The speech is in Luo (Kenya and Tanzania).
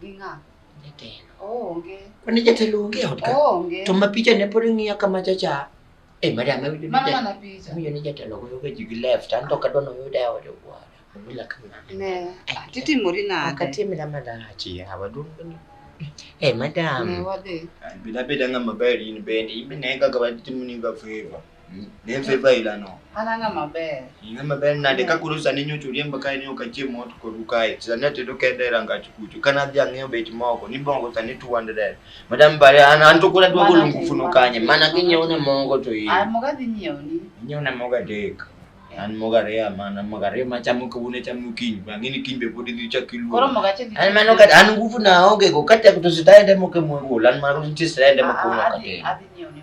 Gi ng'a? Jatelo. Onge. Mane jatelo onge e ot ka? Onge. To ma picha ne pod ng'iya kama cha cha. Eh, madam, awinjo ni Mano jatelo. mana picha. Awinjo ni jatelo goyo ga ji gi left. An to kadwa noyuda e od wuora. Obila ka ng'ato. Ne. Titimori nade? Akatimira malach yawa duong' ni. Eh, Ne madam. wadhi. Bila beda ng'ama ber in bende, in be ne kaka watimoni ga favor. Dem fe ba ila no. Ana nga maber. Nga maber na de ka kuru sani nyo churie mbaka ni okachie mot koru kae. Sani atedo kende ranga chukuchu. Kana dhi ang'eyo bet moko ni bongo sani 200. Madam bare an an to kuna dwago lungu funo kanye. Mana kinyo ne mongo to yi. Ai moga dhi nyo ni. Nyo ne moga dek. An moga rea mana moga rea machamu kawune chamu kiny. Bangini kiny be podi dhi chakilu. Koro moga che dhi. An mano ka an nguvu na oge go kata kutusitaende moke mwe go. Lan maro ntisitaende moke uno kate. Adi adi nyo ni.